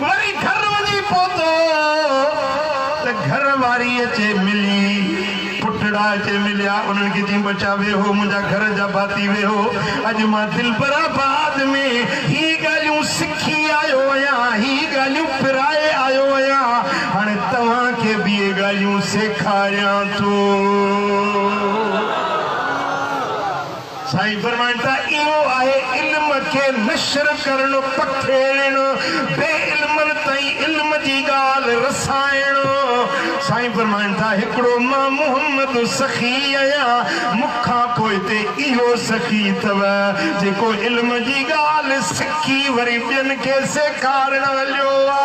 وري گهر وڃي پهتو ته گهر واري اچي ملي. پٽڙا اچي مليا. انهن کي چيائين، ٻچا ويهو، منهنجا گهر جا ڀاتي ويهو. اڄ مان دلبر آباد ۾ هي ڳالهيون سکي آيو آهيان، هي ڳالهيون پرائي آيو آهيان. هاڻي توهان کي به اهي ڳالهيون سيکاريان ٿو. سائين فرمائن ٿا، اهو آهي علم کي نشر ڪرڻ، پکيڙڻ، بي علمن تائين علم جي ڳالهه رسائڻ. سائين فرمائن ٿا، هڪڙو مان محمد سخي آهيان، مون کان پوء تي اهو سخي اٿو، جيڪو علم جي ڳالهه سکي وري ٻين کي سيکارڻ هليو آ.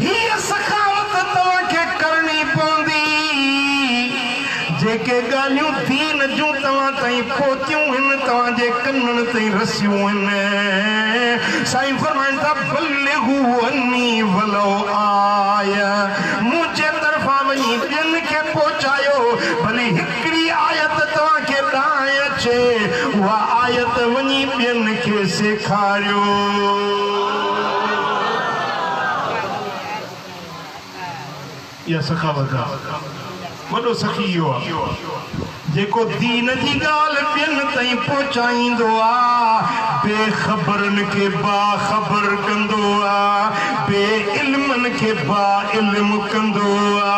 هيء سخاوت توهان کي ڪرڻي پوندي، جيڪي ڳالهيون دين جون توهان تائين پهتيون هن، توهان جي ڪنن تائين رسيون هن، سائين فرمائن ٿا، بلغوا عني ولو آيه، منهنجي طرفان وڃي ٻين کي پهچايو، ڀلي هڪڙي آيت توهان کي ڏانهن اچي، اها آيت وڃي ٻين کي سيکاريو. اها سخاوت آ. وڏو سخي اهو آ، جيڪو دين جي ڳالهه ٻين تائين پهچائيندو آ، بي خبرن کي باخبر ڪندو آ، بي علمن کي باعلم ڪندو آ.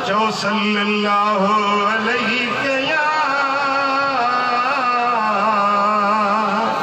چئو صلّي اللّٰه عليّ يا.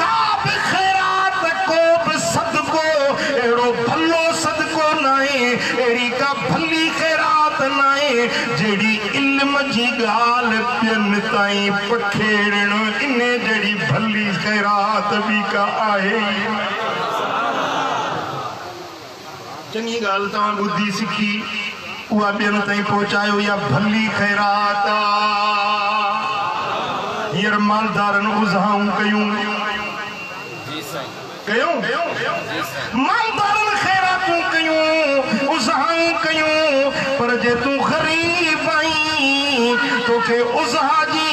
ڪا به خيرات، ڪو به صدقو اهڙو ڀلو صدقو ناهي، اهڙي ڪا ڀلي خيرات ناهي، جهڙي علم جي ڳالهه ٻين تائين پکيڙڻ، انهي جهڙي ڀلي خيرات ٻي ڪا آهي ئي ناهي. چڱي ڳالهه توهان ٻڌي سکي اها ٻين تائين پهچايو اها ڀلي خيرات آ هينئر مالدارن اذهائون ڪيون ڪيون مالدارن خيراتون ڪيون اذهائون ڪيون پر جي تون غريب آهين توکي اذها جي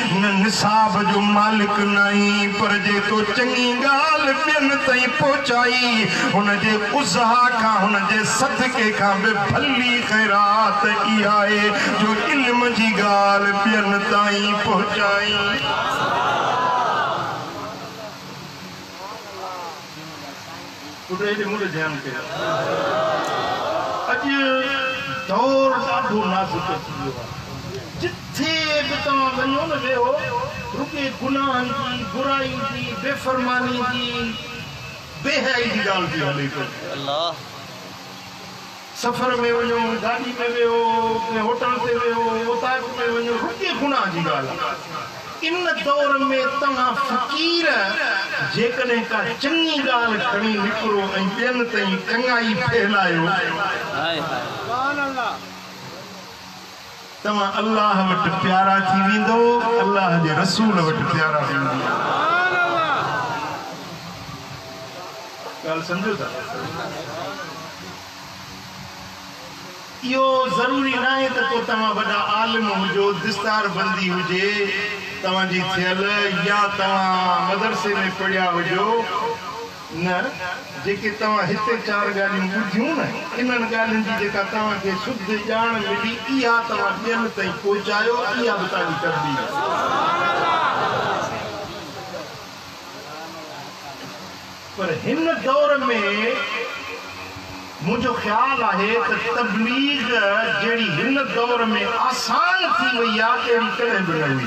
هن نصاب جو مالڪ ناهين پر جيڪو چڱي ڳالهه ٻين تائين پهچائي ان جي ازها کان هن جي صدقي کان به ڀلي خيرات اها آهي جو علم جي ڳالهه ٻين تائين پهچائي. ٻڌي ته مون تي ڌيان ڪيو. اڄ دور ڏاڍو نازڪ ٿي ويو آهي. جٿي به توهان وڃو نه ويهو رڳي گناهن جي، برائي جي، بي فرماني جي، بي حيائي جي ڳالهه ٿي هلي پئي. سفر ۾ وڃو، گاڏي ۾ ويهو، ڪنهن هوٽل تي ويهو، اوطاق ۾ وڃو، رپيي گناهه جي ڳالهه آهي. ان دور ۾ توهان فقير جيڪڏهن ڪا چڱي ڳالهه کڻي نڪرو ۽ ٻين تائين چڱائي ڦهلايو. توهان الله وٽ پيارا ٿي ويندؤ الله جي رسول وٽ پيارا ٿي ويندؤ ڳالهه سمجهو ٿا اهو ضروري ناهي ته ڪو توهان وڏا عالم هجو دستار بندي هجي توهان جي ٿيل يا توهان مدرسي ۾ پڙهيا هجو نه، جيڪي توهان هتي چار ڳالهيون ٻڌيون نه، انهن ڳالهين جي جيڪا توهان کي سڌ ڄاڻ ملي، اها توهان ٻين تائين پهچايو، اها به توهان جي تبليغ آهي. پر هن دور ۾ منهنجو خيال آهي ته تبليغ جهڙي هن دور ۾ آسان ٿي وئي آهي، اهڙي ڪڏهن به نه هئي.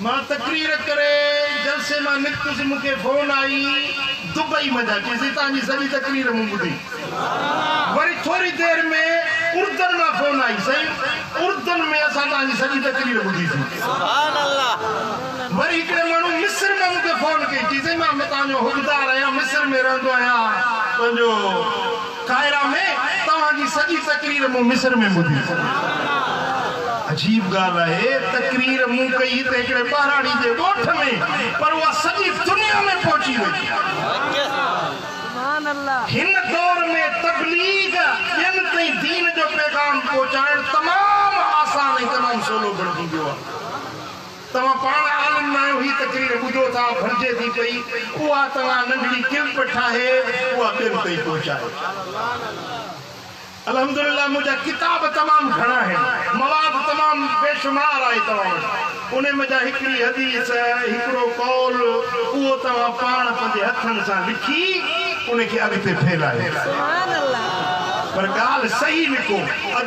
مان تقرير ڪري جلسي مان نڪتس مون کي فون آئي دبئي مان جا چيسي توهان جي سڄي تقرير مون ٻڌي وري ٿوري دير ۾ اردن مان فون آئي سائين اردن ۾ اسان توهان جي سڄي تقرير ٻڌي سي وري هڪڙي ماڻهو مصر مان مون کي فون ڪئي چيسي مان توهان جو حقدار آهيان مصر ۾ رهندو آهيان تنهنجو قاهره ۾ توهان جي سڄي تقرير مون مصر ۾ ٻڌي. عجيب ڳالهه آهي تقرير مون ڪئي هتي هڪڙي ٻهراڙي جي ڳوٺ ۾ پر اها سڄي دنيا ۾ پهچي وئي. هن دور ۾ تبليغ، ٻين تائين دين جو پيغام پهچائڻ تمام آسان ۽ تمام سولو بڻجي ويو آهي. توهان پاڻ عالم ناهيو هي تقرير ٻڌو ٿا ڀرجي ٿي پئي اها توهان ننڍڙي ڪلپ ٺاهي اها ٻين تائين پهچايو الحمدلله منهنجا ڪتاب تمام گهڻا آهن مواد تمام بيشمار آهي توهان وٽ انهي منجهان هڪڙي حديث هڪڙو قول اهو توهان پاڻ پنهنجي هٿن سان لکي انهي کي اڳتي ڦهلايو پر ڳالهه صحيح لکو.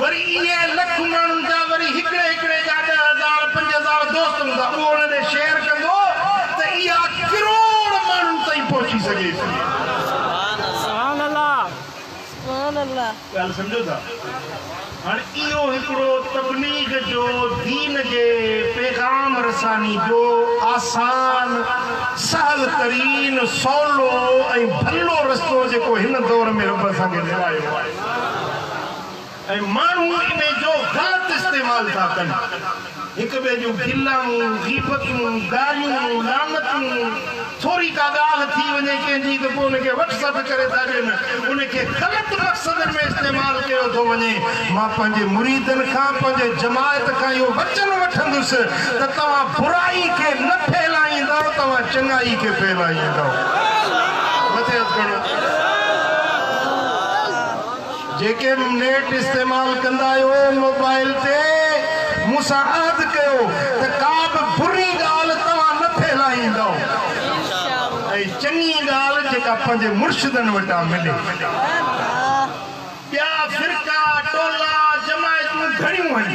وري اهي لک ماڻهن جا وري هڪڙي هڪڙي جا ڏهه هزار پنج هزار دوست هوندا اهو انهن ڏي شيئر ڪندو ته اها ڪروڙ ماڻهن تائين پهچي سگهي ٿي. سبحان الله. ڳالهه سمجهو ٿا؟ هاڻ اهو هڪڙو تبليغ جو دين جي پيغام رساني جو آسان سهل ترين سولو ۽ ڀلو رستو جيڪو هن دور ۾ رب اسان کي ڏيرايو آهي. ۽ ماڻهو ان جو غلط استعمال ٿا ڪن، هڪ ٻئي جون گلائون، غيبتون، گاريون، لعنتون، ٿوري ڪا ڳالهه ٿي وڃي ڪنهن جي ته پوء ان کي وٽس اپ ڪري ٿا ڏين، ان کي غلط مقصدن ۾ استعمال ڪيو ٿو وڃي، مان پنهنجي مريدن کان پنهنجي جماعت کان اهو وچن وٺندس ته توهان برائي کي نه ڦهلائيندؤ توهان چڱائي کي ڦهلائيندؤ. مٿي هٿ کڻو. جيڪي به نيٽ استعمال ڪندا آهيو موبائل تي مون سان عهد ڪيو ته ڪا به بري ڳالهه توهان نه ڦهلائيندؤ ۽ چڱي ڳالهه جيڪا پنهنجي مرشدن وٽان ملي ٻيا فرقا ٽولا جماعتون گهڻيون هن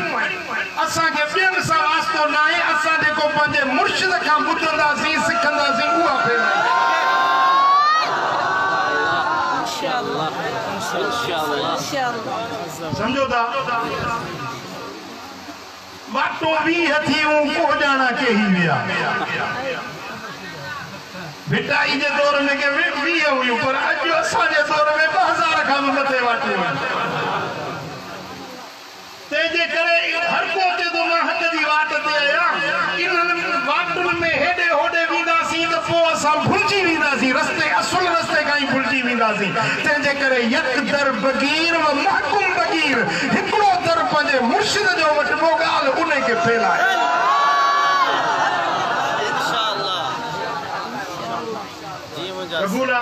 اسان کي ٻين سان واسطو ناهي اسان جيڪو پنهنجي مرشد کان ٻڌنداسين سکنداسين اها ڦهلائينداسين. سمجهو ٿا؟ ماٽو ويهه ٿي اون ڪوهڄاڻا ڪيهي ويا. ڀٽائي جي دور ۾ ڪي ويهه هيون پر اڄ اسان جي دور ۾ ٻه هزار کان به مٿي واٽون آهن. تنهن جي ڪري هر ڪو چئي ٿو مان حق جي واٽ تي آهيان، انهن واٽن ۾ هيڏي هوڏي وينداسين ته پوء اسان ڀلجي وينداسين، رستي اصل رستي کان ئي ڀلجي وينداسين، تنهن جي ڪري يڪ در بگير و محڪم بگير، هڪڙو در پنهنجي مرشد جو وٺبو ڳالهه انهي کي ڦيلائي. قبول آ.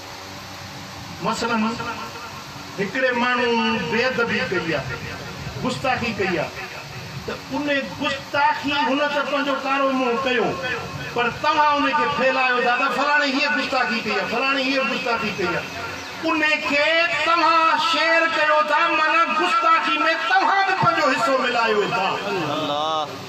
مثلاً هڪڙي ماڻهو بي ادبي ڪئي آ، گستاخي ڪئي آ ته ان گستاخي هن ته پنهنجو ڪارو منهن ڪيو پر توهان ان کي ڦهلايو ٿا ته فلاڻي هيء گستاخي ڪئي آ، فلاڻي هيء گستاخي ڪئي آ. ان کي توهان شيئر ڪيو ٿا معنيٰ گستاخي ۾ توهان به پنهنجو حصو ملايو ٿا.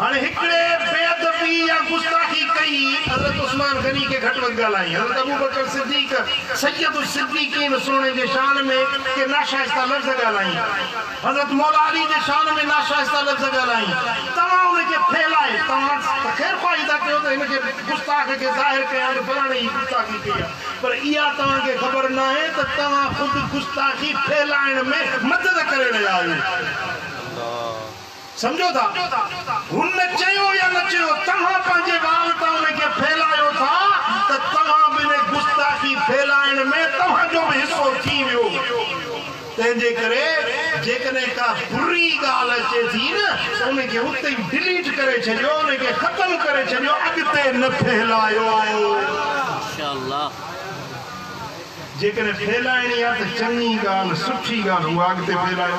هن هڪڙي بي ادبي يا گستاخي ڪئي حضرت عثمان غني کي گهٽ وڌ ڳالهائين حضرت ابوبڪر صديق سيد الصديقين سهڻي جي شان ۾ ڪي ناشائسته لفظ ڳالهائين حضرت مولا علي جي شان ۾ ناشائسته لفظ ڳالهائين توهان ان کي ڦهلائي توهان ته خير خواهي ٿا ڪيو ته هن کي گستاخ کي ظاهر ڪيان ته فلاڻي هي گستاخي ڪئي آهي پر اها توهان کي خبر ناهي ته توهان خود گستاخي ڦهلائڻ ۾ مدد ڪري رهيا آهيو. سمجهو ٿا هن چيو يا نه چيو توهان پنهنجي وال تان ان کي ڦهلايو ٿا ته توهان به ان گستاخي ڦهلائڻ ۾ توهان جو به حصو ٿي ويو تنهن جي ڪري جيڪڏهن ڪا بري ڳالهه اچي ٿي نه ته ان کي اتي ئي ڊليٽ ڪري ڇڏيو ان کي ختم ڪري ڇڏيو اڳتي نه ڦهلايو. جيڪڏهن ڦهلائڻي آ ته چڱي ڳالهه سٺي ڳالهه اها اڳتي ڦهلايو.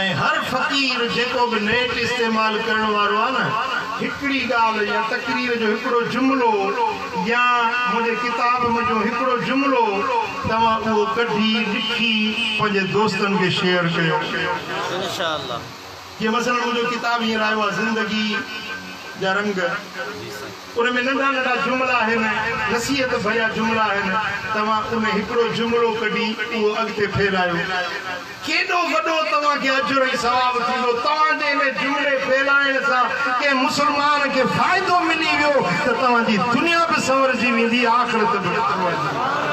۽ هر فقير جيڪو به نيٽ استعمال ڪرڻ وارو آهي نه هڪڙي ڳالهه يا تقرير جو هڪڙو جملو يا منهنجي ڪتاب منجهو هڪڙو جملو توهان اهو ڪڍي لکي پنهنجي دوستن کي شيئر ڪيو. جيئن مثلا منهنجو ڪتاب هينئر آيو آهي زندگي جا رنگ. ان ۾ ننڍا ننڍا جملا آهن، نصيحت ڀريا جملا آهن، توهان ان هڪڙو جملو ڪڍي اهو اڳتي ڦهلايو، ڪيڏو وڏو توهان کي اجر ۽ ثواب ٿيندو، توهان جي ان جملي ڦهلائڻ سان ڪنهن مسلمان کي فائدو ملي ويو ته توهان جي دنيا به سنورجي ويندي آخرت به سنورجي ويندي.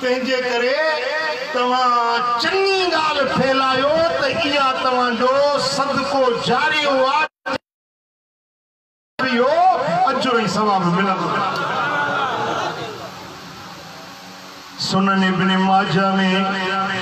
تنهنجي ڪري توهان چڱي ڳالهه ڦهلايو ته اها توهان جو صدقو جاري هو آ جنهن ۾ اهو اجر ۽ ثواب ملندو رهي. سنن ابن ماجه ۾.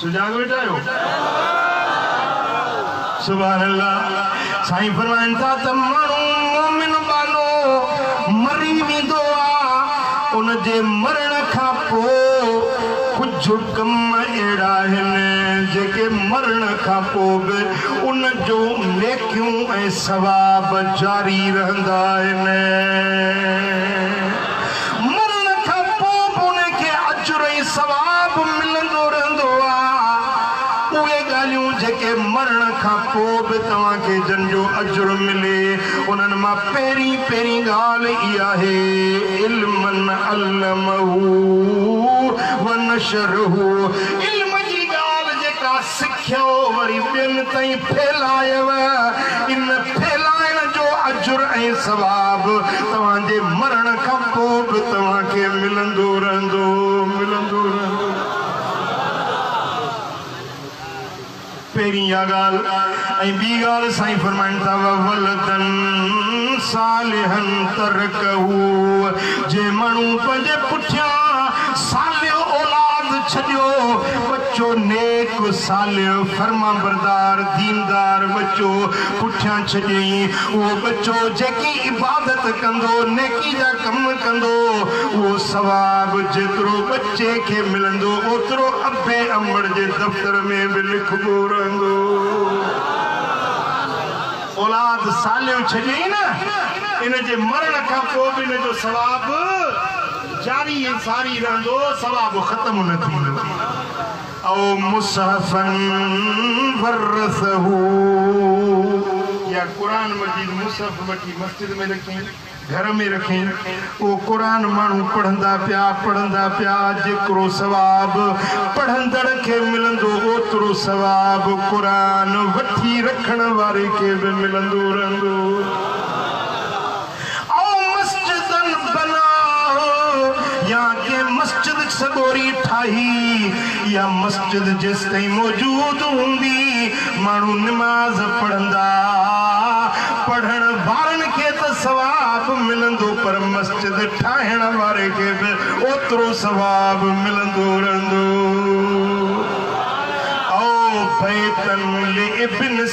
سجاڳ ويٺا آهيو؟ سبحان الله سائين فرمائن ٿا ته ماڻهو مومن ٻانهو مري ويندو آهي ان جي مرڻ کان پوء ڪجهه ڪم اهڙا آهن جيڪي مرڻ کان پوء به ان جون نيڪيون ۽ ثواب جاري رهندا آهن. مرڻ کان پوء به انهن کي اجر ۽ ثواب ملندو رهندو آهي. اهي ڳالهيون جيڪي مرڻ کان پوء به توهان کي جن جو اجر ملي، انهن مان پهرين پهرين ڳالهه هي آهي، علما علمه ونشره، علم جي ڳالهه جيڪا سکيو وري ٻين تائين ڦهلايو، ان ڦهلائڻ جو اجر ۽ ثواب توهان جي مرڻ کان پوء به توهان کي ملندو رهندو، ملندو رهندو. پهرين اها ڳالهه ۽ ٻي ڳالهه سائين فرمائن ٿا، وولدا صالحا ترڪه، جنهن ماڻهو پنهنجي پٺيان صالح اولاد ڇڏيو، چو نيڪ، صالح، فرمانبردار، ديندار ٻچو پٺيان ڇڏيئين. اهو ٻچو جيڪي عبادت ڪندو، نيڪي جا ڪم ڪندو، اهو ثواب جيترو ٻچي کي ملندو، اوترو ابي امڙ جي دفتر ۾ به لکبو رهندو. اولاد صالح ڇڏيئين نه، ان جي مرڻ کان پوء به ان جو ثواب. جاري ۽ ساري رهندو ثواب ختم نه ٿيندو او مصحفا ورثه يا قرآن مجيد مصحف وٺي مسجد ۾ رکين گهر ۾ رکين اهو قرآن ماڻهو پڙهندا پيا پڙهندا پيا جيڪرو ثواب پڙهندڙ کي ملندو اوترو ثواب قرآن وٺي رکڻ واري کي به ملندو رهندو. او مسجدن بنا هو يا ڪنهن مسجد سڳوري ٺاهي اها مسجد جيستائين موجود هوندي ماڻهو نماز پڙهندا پڙهڻ وارن کي ته ثواب ملندو پر مسجد ٺاهڻ واري کي به اوترو ثواب ملندو رهندو او بيتن لابن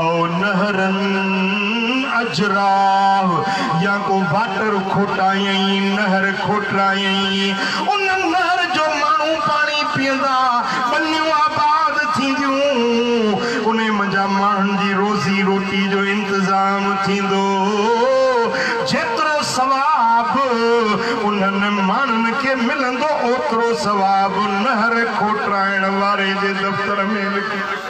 او نهرن اجراء يا ڪو واٽر کوٽائين، نهر کوٽرائين، ان نهر جو ماڻهو پاڻي پيئندا، ٻنيون آباد ٿينديون، انهي منجهان ماڻهن جي روزي روٽي جو انتظام ٿيندو، جيترو ثواب انهن ماڻهن کي ملندو، اوترو ثواب نهر کوٽرائڻ واري جي دفتر ۾ لکي.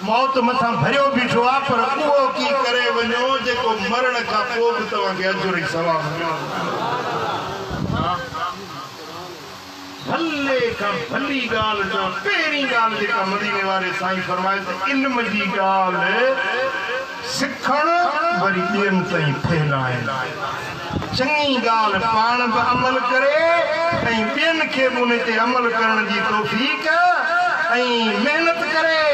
موت مٿان ڀريو بيٺو آ پر اهو ڪي ڪري وڃو جيڪو مرڻ کان پو به توهان کي اجر ۽ ثواب ملندو. ڀلي کان ڀلي ڳالهه چئو پهرين ڳالهه جيڪا مديني واري سائين فرمائي ته علم جي ڳالهه. سکڻ وري ٻين تائين ڦهلائڻ، چڱي ڳالهه پاڻ به عمل ڪري ۽ ٻين کي به ان تي عمل ڪرڻ جي توفيق ۽ محنت ڪري،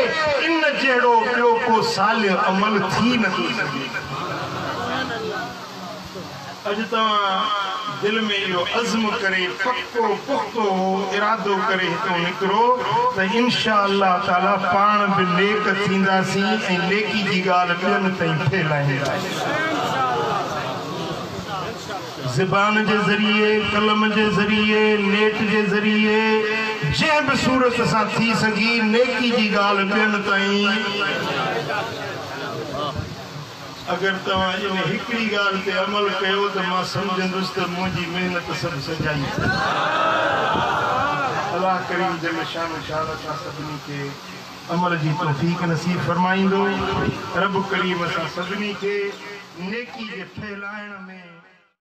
ان جهڙو ٻيو ڪو صالح عمل ٿي نٿو سگهي. اڄ توهان دل ۾ اهو عزم ڪري پڪو پختو اهو ارادو ڪري هتو نڪرو ته انشاء الله تعالي پاڻ به نيڪ ٿينداسين ۽ نيڪي جي ڳالهه ٻين تائين ڦهلائينداسين. زبان جي ذريعي، قلم جي ذريعي، نيٽ جي ذريعي جنهن به صورت سان ٿي سگهي نيڪي جي ڳالهه ٻين تائين. اگر توهان ان هڪڙي ڳالهه تي عمل ڪيو ته مان سمجهندس ته منهنجي محنت سڀ سجائي ٿي. الله ڪريم جل شانه شان اسان سڀني کي عمل جي توفيق نصيب فرمائيندو. رب ڪريم اسان سڀني کي نيڪي جي ڦهلائڻ ۾.